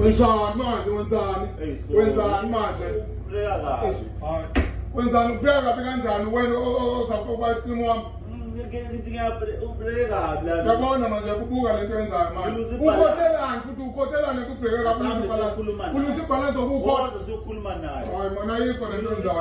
Wenzani manje wenzani? Wenzani manje? Ubreka kabi. Wenzani ubreka kabi kanjani wena ozapha ukuba isilimo wami? yabona manje kubuka le nto yenzayo manje ukhotelani futhi ukhotelane kubheke kakhuluulusa ibhalansi okukhona hayi mona ayikho le nto yenzayo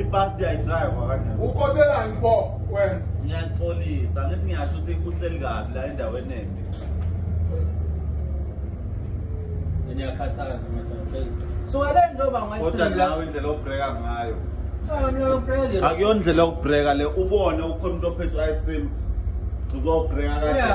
ibhasi yayidrive kanjani ukhotelani bo wena ngiyaxolisa ngithi ngiyasho ukuthi kuhleli kabi la endaweni embi ngiyakhathaza so wale njengoba ngoyisindela kodwa nawe indlela obreaka ngayo akuyona indlela yokubhreka le ubone ukhona umuntu ophethe u-ice cream uzobhreka kanje